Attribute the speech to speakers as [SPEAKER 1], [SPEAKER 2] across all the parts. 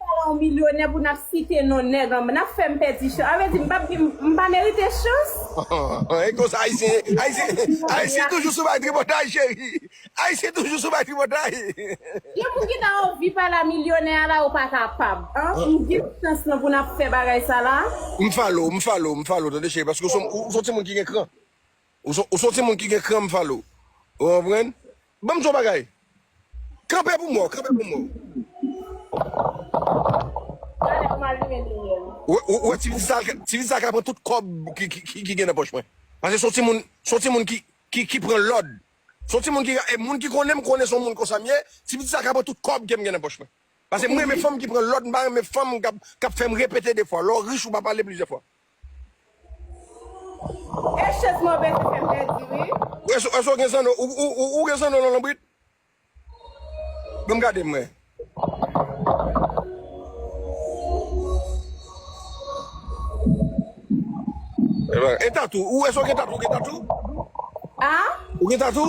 [SPEAKER 1] Ala yon milyonè pou nap site non nèg anba nap fèm pèdi chans sa vle di mpap gen mpa merite chans. Ohh e konsa
[SPEAKER 2] ayisyen ye ayisyen ayisyen toujou sou bay tripotay cheri ayisyen toujou sou bay tripotay. Gen
[SPEAKER 1] moun ki ta anvi pale a milyonè a la yo pa kapab anh nou gen chans lan pou nap fè bagay sa la. M follow, m follow,
[SPEAKER 2] m follow tande cheri paske ou son ou son timoun ki gen kran. Ou son timoun ki gen kran mfalo ou konprann. Banm di yon bagay kanpe pou mwen kanpe pou mwen. Ou wè ti pitit sa ti pitit sa ka pran tout kòb ki gen nan pòch mwen pase son timoun son timoun ki pran lòd son timoun ki e moun ki konnenm konnen son moun konsam ye ti pitit sa ka pran tout kòb kem gen nan pòch mwen pase mrenmen fanm ki pran lòd mpa renmen fanm kap fèm repete 2 fwa lè w rich ou pa pale plizyè fwa.
[SPEAKER 1] E chez mwen bese fè m pèdi wi. Èske w gen zanno?
[SPEAKER 2] Ou gen zanno nan lonbrit? Ban m gade m wè. E tatou? Èske w gen tatou? Ou gen tatou? A?
[SPEAKER 1] Ou gen tatou?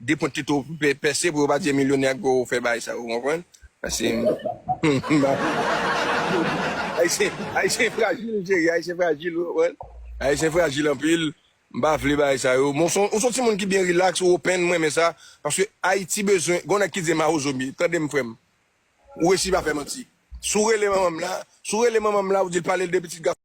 [SPEAKER 2] 2 pwent li tou pèse pou yo pa di e milyonè ak goro fè bagay sa yo ou konprann pase ayisyen frajil cheri ayisyen frajil ou konprann ayisyen frajil anpil m pa vle bagay sa yo men ou son timoun ki byen relax ou open m renmen sa paske ayiti bezwen gon nèg ki di mawozo m ye tande m frèm ou resi pa fè manti si w rele manman m la si w rele manman m la ou di l pale l de pitit gason.